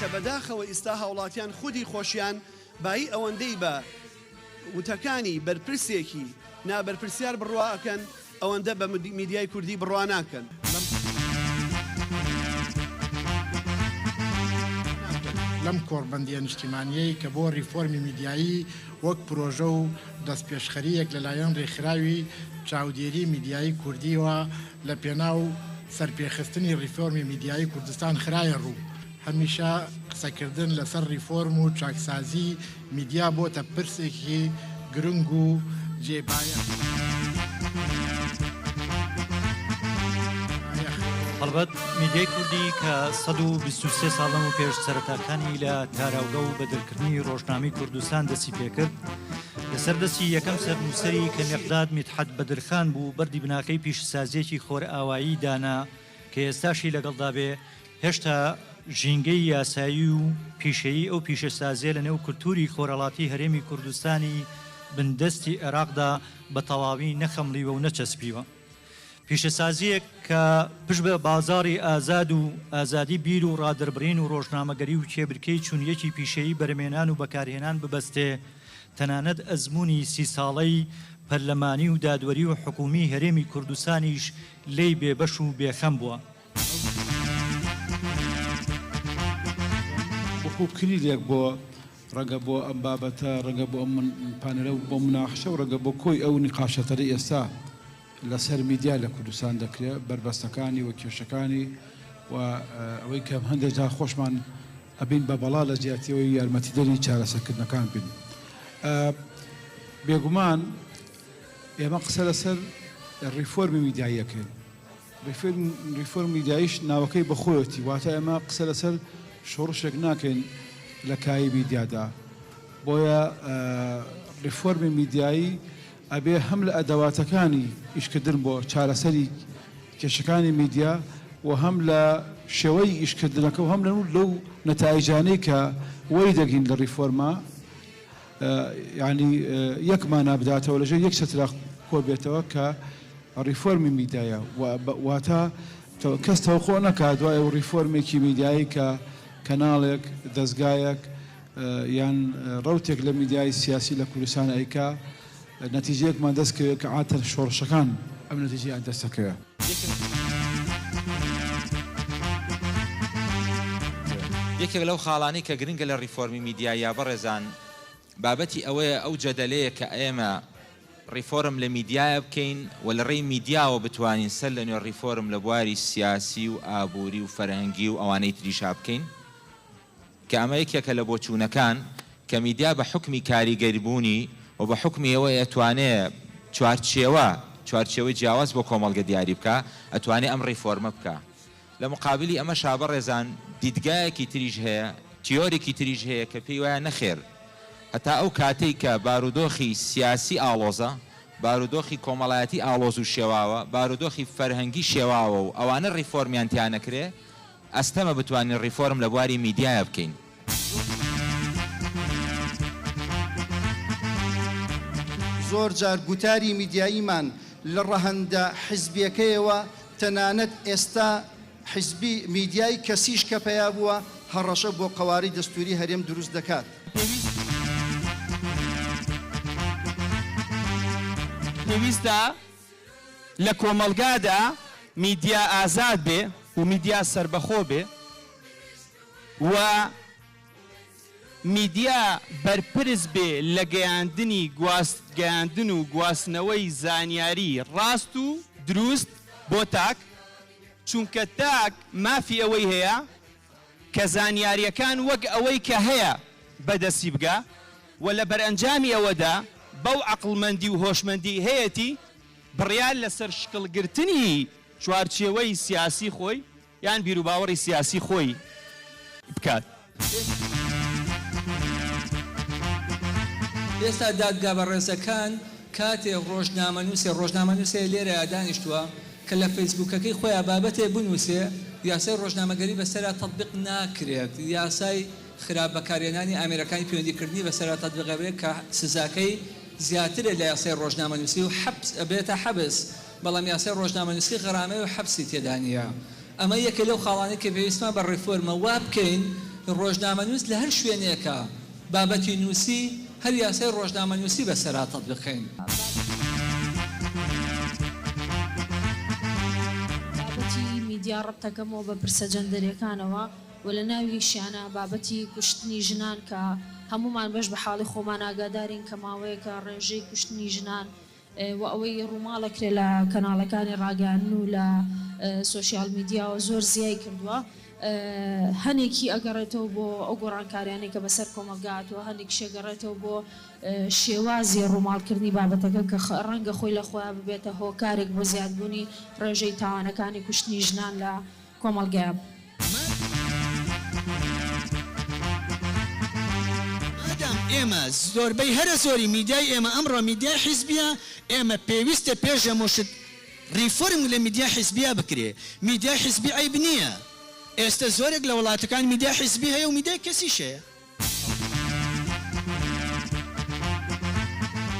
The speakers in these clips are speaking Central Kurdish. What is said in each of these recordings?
کە بەداخەوە ئیستا هاوڵاتیان خودی خۆشیان بایی ئەوەندەی بە وتەکانی بەرپرسێکی نابەرپرسیار بڕوا ئەکەن ئەوەندە بە میدیای کوردی بڕوا ناکەن. لەم کۆڕبەندییە نیشتیمانییەی کە بۆ ڕیفۆرمی میدیایی وەک پرۆژە و دەستپێشخەرییەک لەلایەن ڕێکخراوی چاودێری میدیایی کوردییەوە لە پێناو سەرپێخستنی ڕیفۆرمی میدیایی کوردستان خرایە ڕوو، هەمیشە قسەکردن لەسەر ڕیفۆرم و چاکسازیی میدیا بۆتە پرسێکی گرنگ و جێی بایەخە. هەڵبەت میدیای کوردی کە سەد و بیست و سێ ساڵ لەمەو پێش سەرەتاکانی لە تاراوگە و بەدرکردنی ڕۆژنامەی کوردستان دەستی پێکرد، لەسەر دەستی یەکەم سەرنووسەری کە مێقداد میتحەد بەدرخان بوو، بەردی بناغەی پیشەسازییەکی خۆرئاوایی دانا، کە ئێستاشی لەگەڵدا بێ، هێشتا ژینگەی یاسایی و پیشەیی ئەو پیشەسازییە لە نێو کولتووری خۆرهەڵاتی هەرێمی کوردستانی بندەستی عێراقدا بە تەواوی نەخەمڵیوە و نەچەسپیوە. پیشەسازییەک کە پشت بە بازاڕی ئازاد و ئازادی بیر و ڕادەربڕین و ڕۆژنامەگەری و کێبرکێی چونیەکی پیشەیی بەرهەمێنان و بەکارهێنان ببەستێ، تەنانەت ئەزموونی سی ساڵەی پەرلەمانی و دادوەری و حکوومی هەرێمی کوردستانیش لێی بێ بەش و بێ خەم بووە. وەکو کلیلێک بۆ ڕەگە بۆ ئەم بابەتە، ڕەگە بۆ ئەم پانێلە و بۆ مناقشە و ڕەگە بۆ کۆی ئەو نیقاشەتەرەی ئێستا لە سەر میدیا لە کوردستان دەکرێ، بەربەستەکانی و کێشەکانی و ئەوەی کە هەندێک جار خۆشمان ئەبین بە بەڵا لە جیاتی ئەوەی یارمەتیدەری چارەسەرکردنەکان بین. بێگومان. ئێمە قسە لەسەر ڕیفۆرمی میدیایی ئەکەین. ڕیفۆرم میدیاییش ناوەکەی بەخۆیەتی، واتە ئێمە قسە لەسەر شۆڕشێک ناکەین لە کایی میدیادا. بۆیە ڕیفۆرمی میدیایی ئەبێ هەم لە ئەدەواتەکانی ئیشکردن بۆ چارەسەری کێشەکانی میدیا و هەم لە شێوەی ئیشکردنەکە و هەم لەو نەتایجانەی کە وەریدەگرین لە ڕیفۆرمە یانی یەک مانا بداتەوە لەژێر یەک چەترا کۆبێتەوە کە ڕیفۆرمی میدایە واتە کەس تەوقع نەکات دوای و ڕیفۆرمێکی میدایی کە کەناڵێک دەستگایەک یان ڕوتێک لە میدیای سیاسی لە کوردستان ئەیکا نەتیجەیەکمان دەست کەوێ کە عاتەر شۆڕشەکان ئەم نەتیجەیان دەست ئەکەوێ. یەکێک لەو خاڵانەی کە گرنگە لە ڕیفۆرمی میدیاییا بەڕێزان بابەتی ئەوەیە ئەو جەدەلەیە کە ئێمە ڕیفۆرم لە میدیایە بکەین و لە ڕێی میدیاوە بتوانین سەر لە نوێ ڕیفۆرم لە بواری سیاسی و ئابووری و فەرهەنگی و ئەوانەی تریشا بکەین کە ئەمە یەکێکە لە بۆچوونەکان کە میدیا بە حوکمی کاریگەربوونی و بە حوکمی ئەوەی ئەتوانێ چوارچێوە چوارچێوەی جیاواز بۆ کۆمەڵگە دیاری بکا ئەتوانێ ئەم ڕیفۆرمە بکا. لە مقابلی ئەمەشا بەڕێزان دیدگایەکی تریش هەیە، تیۆریکی تریش هەیە کە پێی وایە نەخێر هەتا ئەو کاتەی کە بارودۆخی سیاسی ئاڵۆزە، بارودۆخی کۆمەڵایەتی ئاڵۆز و شێواوە، بارودۆخی فەرهەنگی شێواوە و ئەوانە ڕیفۆرمیان تیا نەکرێ، ئەستەمە بتوانین ڕیفۆرم لە بواری میدیایا بکەین. زۆر جار گوتاری میدیاییمان لە ڕەهەندە حیزبیەکەیەوە تەنانەت ئێستا حیزبی میدیای کەسیش کە پەیا بووە هەڕەشە بۆ قەوارەی دەستووری هەرێم دروست دەکات. پێویستە لە کۆمەڵگادا میدیا ئازاد بێ و میدیا سەربەخۆ بێ و میدیا بەرپرس بێ لە گەیاندنی گواست گەیاندن و گواستنەوەی زانیاری ڕاست و دروست بۆ تاک چونکە تاک مافی ئەوەی هەیە کە زانیاریەکان وەک ئەوەی کە هەیە بەدەستی بگا و لە بەرئەنجامی ئەوەدا بەو عەقڵمەندی و هۆشمەندیەی هەیەتی بڕیار لەسەر شکڵ گرتنی چوارچێوەی سیاسی خۆی یان بیروباوەڕی سیاسی خۆی بکات. ئێستا دادگا بەڕێزەکان کاتێ ڕۆژنامەنوسێ، ڕۆژنامەنوسێ لێرەیا دانیشتوە، کە لە فەیسبووکەکەی خۆیا بابەتێ بنووسێ یاسای ڕۆژنامەگەری بەسەرا تەتبیق ناکرێت، یاسای خراپ بەکارهێنانی ئامێرەکانی پەیوەندی کردنی بەسەرا تەتبیقەبێ کە سزاکەی زیاترە لە یاسای ڕۆژنامەنووسی و حەپس ئەبێتە حەبس بەڵام یاسای ڕۆژنامەنووسی غەرامەی و حەپسی تێدا نییە ئەمە یەکێ لەو خاڵانەی کە پێویستمان بە ڕیفۆرمە وابکەین ڕۆژنامەنووس لە هەر شوێنێکە بابەتی نووسی، هەر یاسای ڕۆژنامەنووسی بە سەرا تەتبیقکەین. بابەتی میدیا ڕەبت دەکەمەوە بە پرسە جەندەریەکانەوە و لە ناویشیانا بابەتی کوشتنی ژنان کە هەموومان بەش بە حاڵی خۆمان ئاگادارین کە ماوەیەکە ڕێژەی کوشتنی ژنان وە ئەوەی ڕووماڵەکرێ لە کەناڵەکانی ڕاگەیاندن و لە سۆشیال میدیاوە زۆر زیای کردووە هەنێکی ئەگەڕێتەوە بۆ ئەو گۆڕانکاریانەی کە بەسەر کۆمەڵگا هاتووە هەنێکیش ئەگەڕێتەوە بۆ شێوازی ڕووماڵکردنی بابەتەکە کە ڕەنگە خۆی لە خۆیا ببێتە هۆکارێک بۆ زیادبوونی ڕێژەی تاوانەکانی کوشتنی ژنان لە مادام ئێمە زۆربەی هەرە زۆری میدیای ئێمە ئەمڕۆ میدیای حیزبیە ئێمە پێویستە پێش هەموو شت ریفۆرم لە میدیای حیزبیە بکرێ میدیای حیزبی عەیب نیە ئێستە زۆرێک لە وڵاتەکان میدیای حیزبی هەیە و میدیای کەسیش هەیە.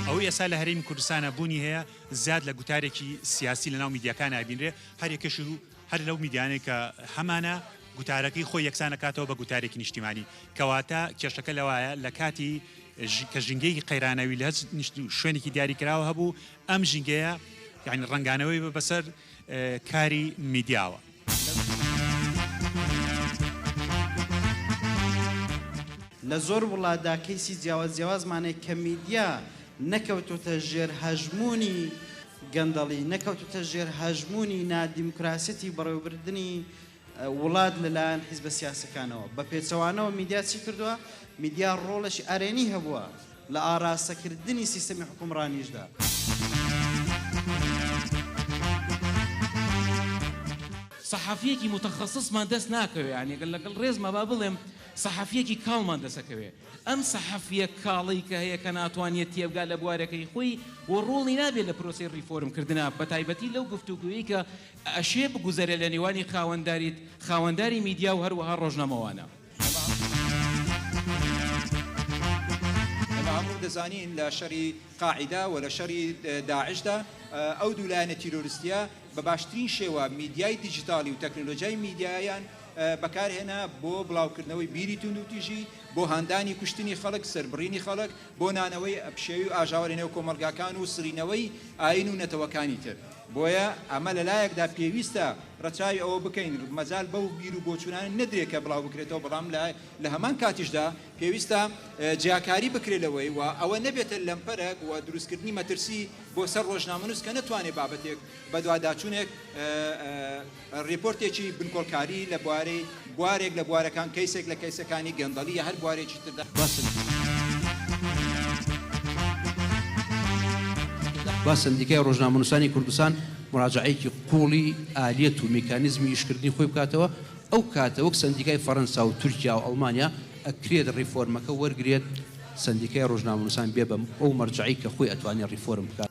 ئەوەی ئێستا لە هەرێمی کوردستانا بوونی هەیە زیاد لە گوتارێکی سیاسی لە ناو میدیاکانا ئەبینرێ هەر یەکەشی هەر لەو میدیانەی کە هەمانە گوتارەکەی خۆی یەکسان ئەکاتەوە بە گوتارێکی نیشتیمانی کەواتە کێشەکە لەوایە لە کاتی ژ- کە ژینگەیەکی قەیرانەوی لە هەچ نیشت- شوێنێکی دیاری کراوە هەبوو ئەم ژینگەیە یعنی ڕەنگانەوەی بە بەسەر اه، کاری میدیاوە لە زۆر وڵاتدا کەیسی جیاواز جیاوازمان هەیە کە میدیا نەکەوتووتە ژێر هەژموونی گەندەڵی، نەکەوتووتە ژێر هەژموونی نادیموکراسیەتی بەڕێوەبردنی وڵات لەلایەن حیزبە سیاسەکانەوە. بە پێچەوانەوە میدیا چی کردووە؟ میدیا ڕۆڵێکی ئەرێنی هەبووە لە ئاراستەکردنی سیستەمی حوکمڕانیشدا. سەحەفییەکی موتەخەسسمان دەست ناکەوێ، یانێ لەگەڵ ڕێزما با بڵێم سەحەفییەکی کاڵمان دەسەکەوێ. ئەم سەحەفیە کاڵی کە هەیە کە ناتوانیە تێبگا لە بوارەکەی خۆی و ڕۆڵی نابێت لە پرۆسەی ڕیفۆرم کردنا بە تایبەتی لەو گفتوگۆیەی کە ئەشێ بگوزەرێت لە نێوانی خاوەنداریت خاوەنداری میدیا و هەروەها ڕۆژنامەوانە. ئێمە هەموو دەزانین لە شەری قاعیدە و لە شەری داعشدا ئەو دوو لایەنە تیرۆرستیە بە باشترین شێوە میدیای دیجیتاڵی و تەکنەلۆجیای میدیایان بەکارهێنا بۆ بڵاوکردنەوەی بیری توندوتیژی، بۆ هاندانی کوشتنی خەڵک، سەربڕینی خەڵک، بۆ نانەوەی پشێوی و ئاژاوە لەنێو کۆمەڵگاکان و سڕینەوەی ئایین و نەتەوەکانی تر. بۆیە ئەمە لەلایەکدا پێویستە ڕەچاوی ئەوە بکەین مەجال بەو بیر و بۆچوونانە نەدرێت کە بڵاوبکرێتەوە، بەڵام لە هەمان کاتیشدا پێویستە جیاکاری بکرێت لەوەی و ئەوە نەبێتە لەمپەرەک و دروستکردنی مەترسی بۆ سەر ڕۆژنامەنووس کە نەتوانێت بابەتێک بەدواداچوونێک ڕێپۆرتێکی بنکۆڵکاری لە بوارەی بوارێک لە بوارەکان، کەیسێک لە کەیسەکانی گەندەڵی یا هەر بوارێکی تر دا، سەندیکای ڕۆژنامەنووسانی کوردستان موراجەعەیەکی قووڵی ئالیەت و میکانیزمی ئیشکردنی خۆی بکاتەوە، ئەو کاتە وەک سەندیکای فەرەنسا و تورکیا و ئەڵمانیا ئەکرێت ڕیفۆرمەکە وەرگرێت، سەندیکای ڕۆژنامەنووسان بێ بە ئەو مەرجەعەی کە خۆی ئەتوانێت ڕیفۆرم بکات.